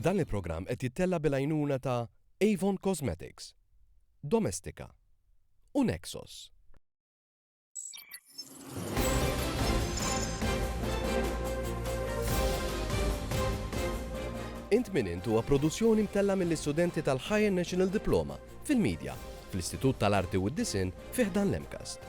Dan il-programm qed jittella' bil-għajnuna ta' Avon Cosmetics, Domestika u Nexos. Int Min Int huwa produzzjoni mtellgħa mill-istudenti tal-Higher National Diploma fil-Media fl-Istitut tal-Arti u d-Disinn fi ħdan l-MCAST.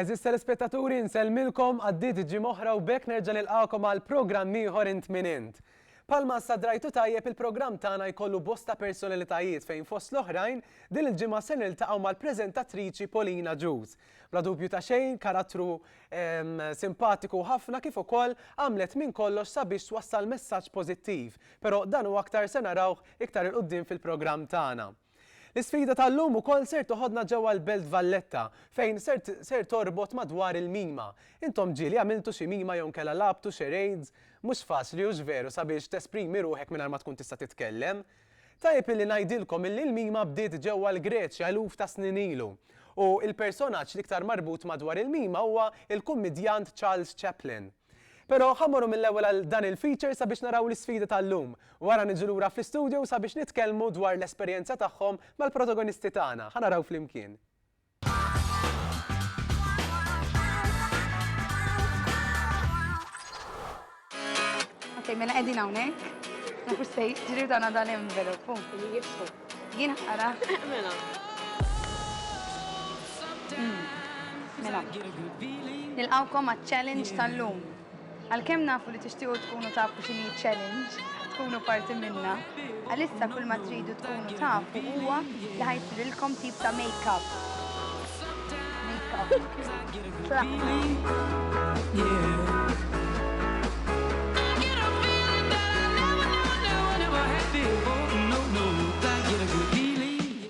Eżis telespettaturi nsellmilkom għaddiet ġimgħa oħra u bekk nerġa' nilqakom għal programm ieħor int minn int. Palma sa drajtu tajjeb il-programm tagħna jkollu bosta personalitajiet fejn fost l-oħrajn din il-ġimgħa se niltaqgħu mal-preżentatriċi Polina Ġuż Bla dubju ta' xejn, karattru simpatiku ħafna kif ukoll għamlet minn kollox sabiex twassal messaġġ pożittiv, però dan u aktar se narawh iktar 'il quddiem fil-programm tagħna. L-isfida tal-lum ukoll ser toħodna ġewwa l-Belt Valletta fejn ser torbot madwar il-mima. Intom ġieli għamiltu xi mima jew inkella lagħbtu charades? Mhux faċli hux veru sabiex tesprimi ruħek mingħajr ma tkun tista' titkellem? Tajjeb illi ngħidilkom illi l-mima bdiet ġewwa l-Greċja eluf ta' snin ilu. U l-personaġġ l-iktar marbut madwar il-mima huwa l-kummidjant Charles Chaplin. Pero ħa mmorru mill-ewwel għal dan il-feature sabiex naraw l-isfida tal-lum. Wara niġu lura fl-istudio sabiex nitkellmu dwar l-esperjenza tagħhom mal-protagonisti tagħna. Ħa naraw flimkien. Ok, mela qegħdin hawnhekk. Nafu se jiġri dan dan envelop. Jibsu. Jien ħara. Mela. Hmm. Mela. Nilqawkom għat-challenge tal-lum. Għalkemm nafu li tixtiequ tkunu tafu x'inhi challenge, tkunu parti minna, għalissa kull ma tridu tkunu tafu huwa li ħajsirilkom tip ta' make-up. Make-up.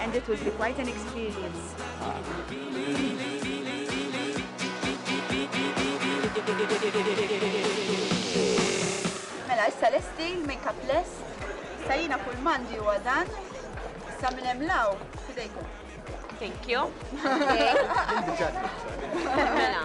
And it would be quite an experience. Mela, issa lesti, make-up lest. Issa jina kull mandi u għadan. Issa minn hemm law, fidejkom. Thank you. Mela.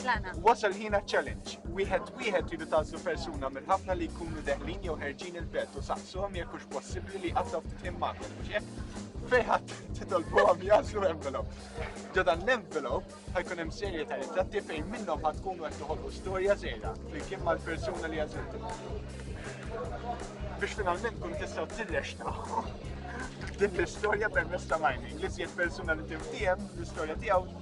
Tlaqna. Wasal ħin għaċ-challenge. Wieħed wieħed tridu tagħżlu persuna mill-ħafna li jkunu deħlin jew ħerġin il-belt u saqsuhom jekk hux possibbli li jqattgħu ftit ħin magħkom, mhux hekk? Fejħat titolbuhom jażlu envelop. Ġo dan l-envelop ħajkun hemm serje ta' ritratti fejn minnhom ħad tkunu qed toħolqu storja żgħira flimkien mal-persuna li għażiltu. Biex finalment kun tistgħu tirrexta din l-istorja permezz ta' mining li żjed persuna li timtiehem l-istorja tiegħu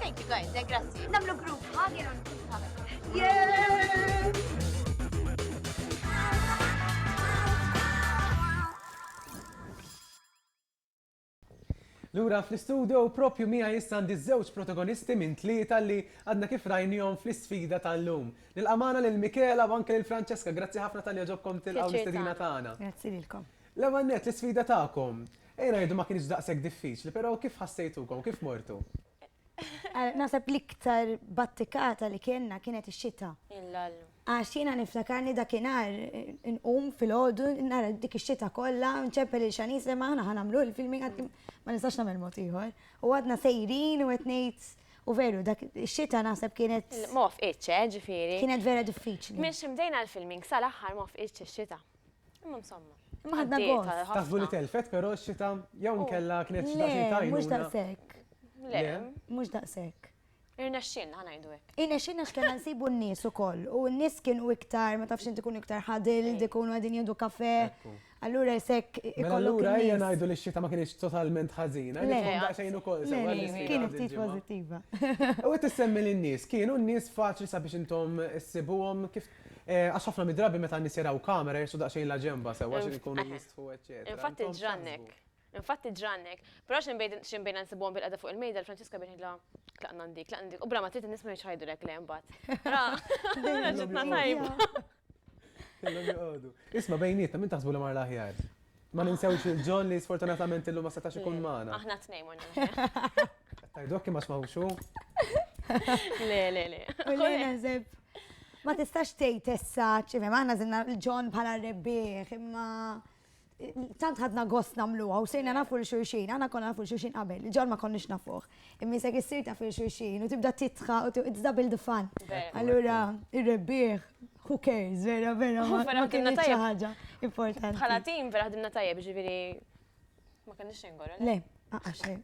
Thank you guys, eh, grazzi. Namlu group hug jew Yeah! Lura fl-istudio propju mija jissa għandi żewġ protagonisti minn tlieta li għadna kif rajnijom fl-isfida tal-lum. Nil-amana lil Mikela u anke lil Francesca, grazzi ħafna tal-li ġobkom tilqaw l-istedina tagħna. Grazzi lilkom. L-ewwel net l-isfida tagħkom. Ejja ngħidu ma kienx daqshekk diffiċli, però kif ħassejtukom, kif mortu? Naħseb l-iktar battikata li kellna kienet ix-xita. Għax jiena niftakarni dakinhar inqum filgħodu nara dik ix-xita kollha u nċempel lil Shanice li aħna ħa nagħmlu l-filming għad kemm ma nistax nagħmel mod ieħor. U għadna sejrin u qed ngħid u veru dak ix-xita naħseb kienet. Ma wafqitx, eh, ġifieri. Kienet vera diffiċli. Minn xi bdejna l-filming sal-aħħar ma wafqitx ix-xita. Imma msamma. Imma ħadna gost. Taħsbu li telfet però x-xita jew oh. nkella kienet xita xi tajnu. Mhux daqshekk. Le, mhux daqshekk. Irnexxin, ħanajdu hekk. Irnexxin għax kellna nsibu n-nies ukoll u n-nies kienu iktar, ma tafx inti ikunu iktar ħadil, ikunu għadin jieħdu kafe. Allura jisek mela ikollu. Allura ejja ngħidu li x-xita ma kienx totalment ħażina, nifhom xejn ukoll sewa li kien ftit pożittiva. U qed tissemmi lin-nies, kienu n-nies faċli sabiex intom issibuhom kif Għax ħafna mid-drabi meta n-nies jaraw kamera jirsu daqsxejn la ġenba sewwa xi jkunu jistħu eċċetera. Infatti ġrannek. Infatti ġrannek. Però xi nbejna nsibuhom bil-qeda fuq il-mejda l-Franċiska bejn ngħidilha tlaqna ndik, tlaqna ndik. U bla ma trid in-nies ma jridx jgħidulek le mbagħad. Ra, ġitna tajba. Isma' bejnietna min taħsbu li mar l-aħjar? Ma ninsewx il-John li sfortunatament illum ma setax ikun magħna. Aħna tnejn ma Tajdokki ma smawxu. Le, le, le. Ma tistax tgħid issa, ċivi, maħna zinna l-ġon bħala rebbieħ, imma tant ħadna gost namluha u sejna nafu l-xurxin, għana konna nafu l-xurxin qabel, ġon ma konniex nafuħ. Immisek issir ta' fil xulxin u tibda titħa u it's double the fun. Allura, ir-rebbieħ, who cares, vera, vera, ma kienna tajja ħaġa importanti. Bħala tim, vera ħdimna tajja, ġiviri, ma kienna xejn gorra. Le, għaxħe.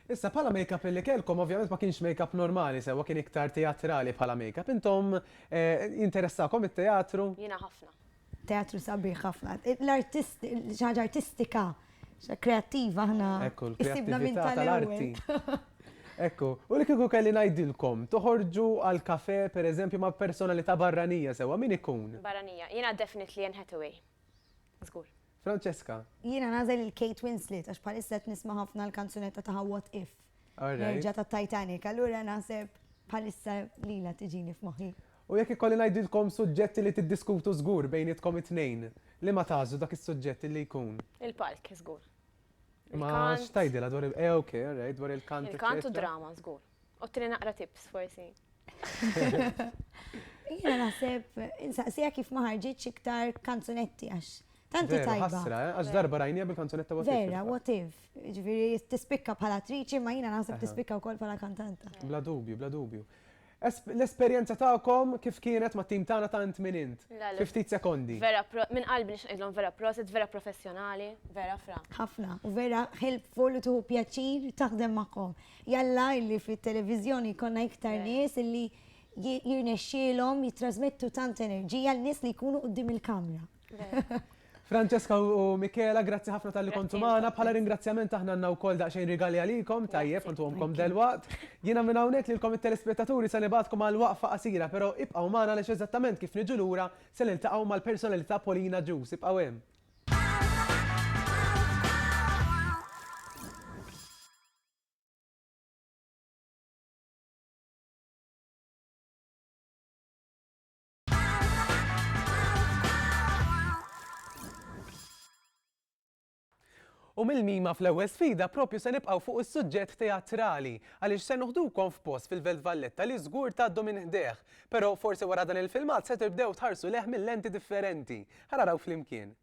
Issa bħala make-up li kelkom, ovvjament ma kienx make-up normali, sewa kien iktar teatrali bħala make-up. Intom eh, interessakom it-teatru? Jina ħafna. Teatru sabiħ ħafna. L-artisti, ħaġa artistika, kreattiva ħna. Ekku, l-kreattiva minn tal-arti. Ekku, u li kiku kelli najdilkom, toħorġu għal-kafe, per eżempju, ma' personalità barranija sewa, min ikun? Barranija, jena definitely Anne Hathaway. Zgur. Francesca. Jiena nagħżel lil Kate Winslet għax bħalissa qed nisma' ħafna l-kanzunetta tagħha What If. Nerġa' tat-Titanic, allura naħseb bħalissa lilha tiġini f'moħħi. U jekk ikolli ngħidilkom suġġetti li tiddiskutu żgur bejnietkom it-tnejn, liema tagħżlu dak is-suġġett li jkun? Il-palk żgur. Ma x'tgħidilha dwar il-, eh ok, alright, dwar il-kant. Il-kant u d-drama żgur. Ottini naqra tips forsi. Jena naħseb, insaqsija kif ma ħarġitx iktar kanzunetti għax. Tanti Vera, tajba. ħasra, eh? għax darba rajnija bil-kanzunetta what if. Vera, fil-fatt. what if. Ġviri, tispikka bħala attriċi, ma jina naħseb Aha. tispikka wkoll bħala kantanta. Bla dubju, bla dubju. Es- L-esperjenza tagħkom kif kienet ma' tim tagħna tant minn int? La, la. Fi ftit sekondi. Vera, pro- minn qalbi nix ngħidlhom vera prosit, vera professjonali, vera fra. ħafna, u vera helpful u tuħu pjaċir taħdem magħhom. Jalla illi fit-televiżjoni jkollna iktar nies illi jirnexxielhom jittrasmettu tant enerġija lil nies li jkunu quddiem il-kamra. Francesca u Michela, grazzi ħafna tal-li kontu magħna. Bħala ringrazzjament aħna għandna wkoll daqsxejn rigali għalikom, tajjeb ħantuhomkom delwaqt. Jiena minn hawnhekk lilkom it-telespettaturi se nibgħatkom għal waqfa qasira, però ibqgħu magħna għaliex eżattament kif niġu lura se niltaqgħu mal-personalità Polina Juice. Ibqgħu hemm. U mill-mima fl-ewwel sfida propju se nibqgħu fuq is-suġġett teatrali għaliex se noħdukom f'post fil-Velt Valletta li żgur tgħaddu minn ħdejh. Però forsi wara dan il-filmat se tibdew tħarsu lejh minn lenti differenti. Ħa naraw flimkien.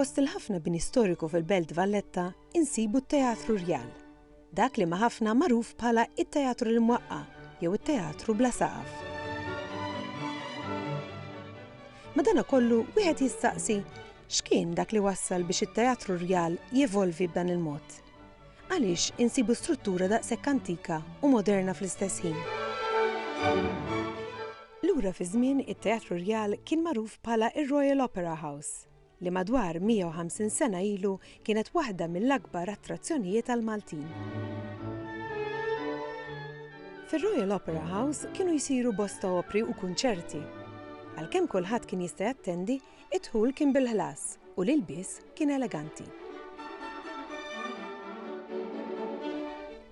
Fost il-ħafna bini storiku fil-Belt Valletta insibu t-Teatru Rjal, dak li ma' ħafna magħruf bħala it-Teatru l-Mwaqqa jew it-Teatru bla saqaf. Madana kollu wieħed jistaqsi X'kien dak li wassal biex it-Teatru Rjal jevolvi b'dan il-mod? Għaliex insibu struttura daqshekk antika u moderna fl-istess ħin? Lura fiż-żmien it-Teatru Rjal kien magħruf bħala r-Royal Opera House, li madwar 150 sena ilu kienet waħda mill-akbar attrazzjonijiet għall-Maltin. Fir-Royal Opera House kienu jsiru bosta opri u kunċerti. Għalkemm kulħadd kien jista' jattendi, Id-dħul kien bil-ħlas u l-ilbies kien eleganti.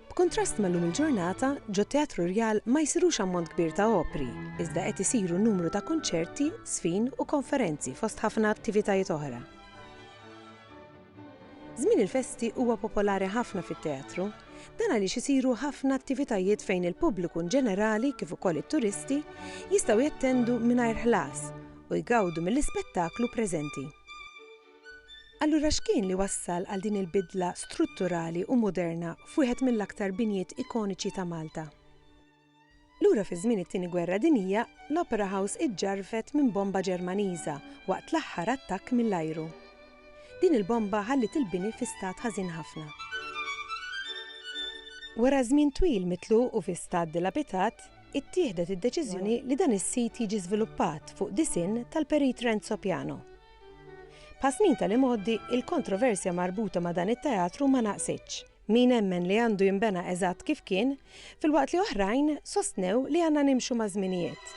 B'kuntrast ma' llum il-ġurnata, ġot-Teatru Rjal ma jsirux ammont kbir ta' opri, iżda qed isiru numru ta' kunċerti, żfin u konferenzi fost ħafna attivitajiet oħra. Żmien il-festi huwa popolari ħafna fit-teatru. Dan għaliex isiru ħafna attivitajiet fejn il-pubbliku inġenerali kif ukoll it-turisti jistgħu jattendu mingħajr ħlas u jgawdu mill-ispettaklu preżenti. Allura x'kien li wassal għal din il-bidla strutturali u moderna f'wieħed mill-aktar binjiet ikoniċi ta' Malta? Lura fi żmien it-Tieni Gwerra Dinjija, l-Opera House iġġarfet minn bomba Ġermaniża waqt l-aħħar attakk mill-ajru. Din il-bomba ħalliet il-bini fi stat ħażin ħafna. Wara żmien twil mitluq u fi stat dilapitat, ittieħdet id-deċiżjoni li dan is-sit jiġi żviluppat fuq disinn tal-Perit Renzo Piano. Bħas-snin tal-imgħoddi, il-kontroversja marbuta ma' dan it-teatru ma naqsitx. Min emmen li għandu jinbena eżatt kif kien, filwaqt li oħrajn sostnew li għandna nimxu maż-żminijiet.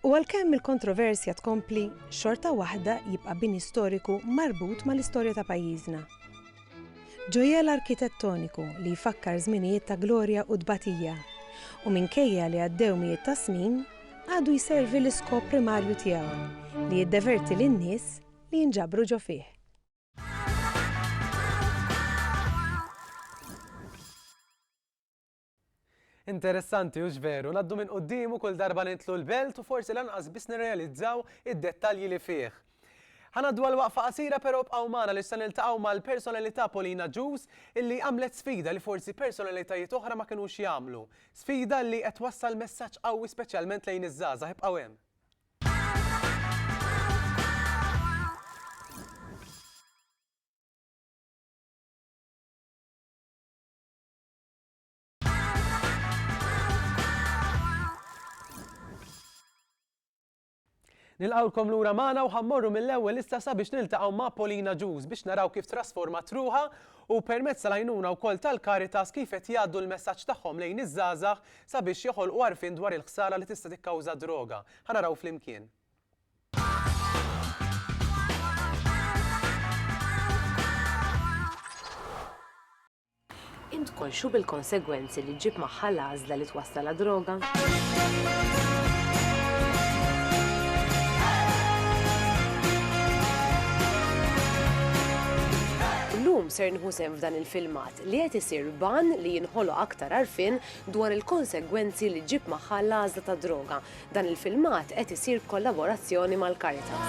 U għalkemm il-kontroversja tkompli, xorta waħda jibqa' bini storiku marbut mal-istorja ta' pajjiżna. Ġojell arkitettoniku li jfakkar żminijiet ta' glorja u tbatija, u minkejja li għaddew mijiet ta' snin, għadu jservi l-iskop primarju tiegħu, li jiddeverti lin-nies li jinġabru ġo fih. Interessanti, hux veru, naddu minn quddiemu kull darba nitlu l-belt u forsi lanqas biss nirrealizzaw id-dettalji li fih. Ħanaddu għal waqfa qasira però bqgħu magħna li se niltaqgħu mal-personalità Polina Ġuż illi għamlet sfida li forsi personalitajiet oħra ma kinux jagħmlu. Sfida li qed twassal messaġġ qawwi speċjalment lejn iż-żgħażagħ, ibqgħu hemm. Nilqgħulkom lura magħna u ħammorru mill-ewwel issa sabiex niltaqgħu ma' Polina Ġuż biex naraw kif trasformat ruħha u permezz tal-għajnuna wkoll tal-Caritas kif qed jgħaddu l-messaġġ tagħhom lejn iż-żgħażagħ Sabiex joħolqu għarfien dwar il-ħsara li tista' tikkawża d-droga. Ħa naraw flimkien. Int konxju bil-konsegwenzi li ġġib magħha l-għażla li twassal għad-droga? Illum ser nieħu sehem f'dan il-filmat li qed isir b'għan li jinħoloq aktar għarfien dwar il-konsegwenzi li ġġib magħha l-għażla tad-droga. Dan il-filmat qed isir b'kollaborazzjoni mal-Caritas.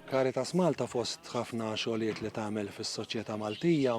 Caritas Malta fost ħafna xogħlijiet li tagħmel fis-soċjetà Maltija,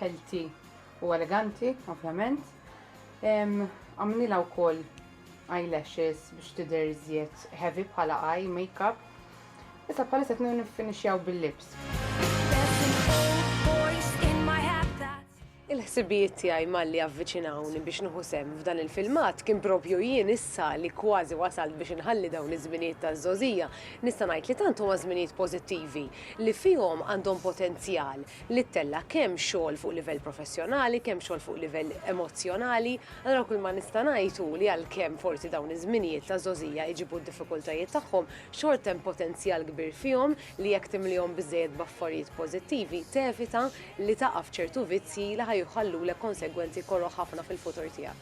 healthy u eleganti, ovvjament. Għamlilha wkoll eyelashes biex tidher żjed heavy bħala eye makeup. Issa bħalissa qed niffinixjaw bil-lips. Il-ħsibijiet tiegħi malli avviċinawni biex nieħu sehem f'dan il-filmat kien proprju jien issa li kważi wasalt biex inħalli dawn iż-żminijiet taż-żgħożija, nista' ngħid li tant huma żminijiet pożittivi li fihom għandhom potenzjal li ttella' kemm xogħol fuq livell professjonali, kemm xogħol fuq livell emozzjonali. Allura kull ma nista' ngħid hu li għalkemm forsi dawn iż-żminijiet ta' żgħożija jġibu d-diffikultajiet tagħhom, xorta hemm potenzjal kbir fihom li jekk timlihom biżżejjed b'affarijiet pożittivi, tevita li taqa' f'ċertu vizzji li ħa jħallulek konsegwenzi koroh ħafna fil-futur tiegħek.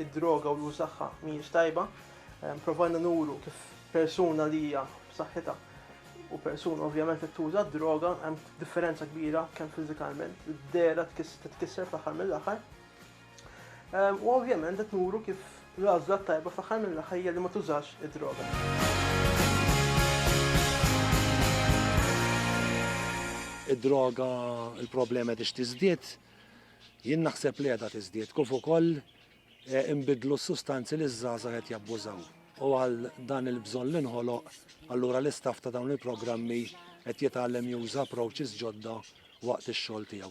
id-droga u l-użagħha mhijiex tajba. Provajna nuru kif persuna li hija b'saħħitha u persuna ovvjament li tuża d-droga hemm differenza kbira kemm fiżikalment, id-dehra titkisser fl-aħħar mill-aħħar. U ovvjament qed nuru kif l-għażla tajba fl-aħħar mill-aħħar hija li ma tużax id-droga. Id-droga, il-problema qed tiżdied, Jien naħseb li qiegħda tiżdied kif ukoll inbiddlu s-sustanzi li ż-żgħażagħ qed jabbużaw u għal dan il-bżonn li nħoloq allura l-istaff ta' dawn il-programmi qed jitgħallem juża approaches ġodda waqt ix-xogħol tiegħu.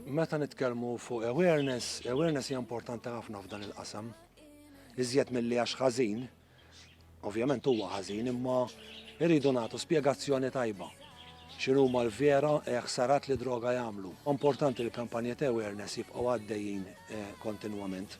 Meta nitkellmu fuq awareness, awareness hija importanti ħafna f'dan il-qasam. Iżjed milli għax ħażin, ovvjament huwa ħażin, imma irridu nagħtu spjegazzjoni tajba. X'inhuma l-vera eh, ħsarat li droga jagħmlu. Importanti li kampanja ta' awareness jibqgħu għaddejjin eh, kontinwament.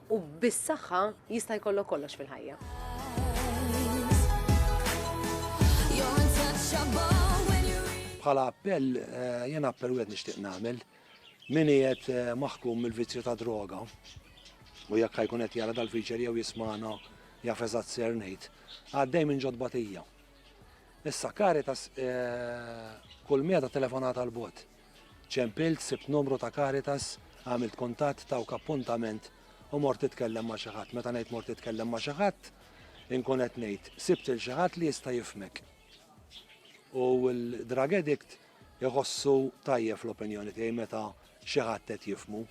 U bis-saħħa jista' jkollok kollox fil-ħajja. Bħala appell eh, jien appell wieħed nixtieq nagħmel min qiegħed eh, maħkum mill-vizzju ta' droga u jekk ħajkun qed jara dal-feature jew jismana jaf eżatt ser ngħid, għaddej minn ġod batija. Issa Caritas eh, kull meta telefonata l-bot. Ċempilt, sibt numru ta' Caritas, għamilt kuntatt, tawk appuntament u mort titkellem ma' xi ħadd. Meta ngħid mort titkellem ma' xi ħadd, inkun qed ngħid sibt lil xi ħadd li jista' jifhmek. U l-drug addict iħossu tajjeb fl-opinjoni tiegħi meta xi ħadd qed jifhmu.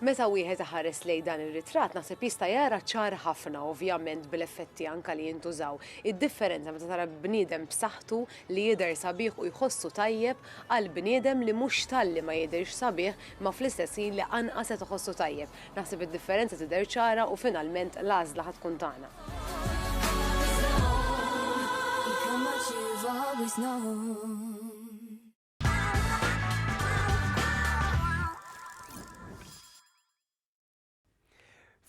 Meta wieħed iħares lejn dan ir-ritratt naħseb jista' jara ċar ħafna, ovvjament bl-effetti anka li jintużaw, id-differenza meta tara bniedem b'saħħtu li jidher sabiħ u jħossu tajjeb għal bniedem li mhux talli ma jidhirx sabiħ ma fl-istess ħin li anqas qed iħossu tajjeb. Naħseb id-differenza tidher ċara u finalment l-għażla ħa tkun tagħna.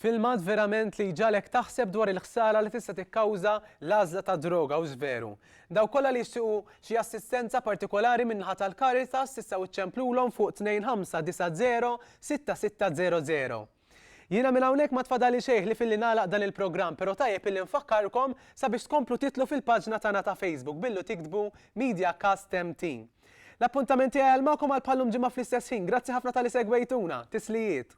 Filmat verament li jġalek taħseb dwar il-ħsara li tista' tikkawża l-għażla ta' droga u żveru. Daw kollha li jixtiequ xi assistenza partikolari min-naħa tal-Caritas tistgħu ċċemplulhom fuq 2590 6600. Jiena minn hawnhekk ma tfadalli xejn ħlief illi nagħlaq dan il-programm pero tajjeb illi nfakkarkom sabiex tkomplu titlu fil-paġna tagħna ta' Facebook billu tiktbu Mediacast MT. L-appuntament tiegħi għal magħkom għal bħallum ġimgħa fl-istess ħin. Grazzi ħafna talli segwejtuna. Tislijiet.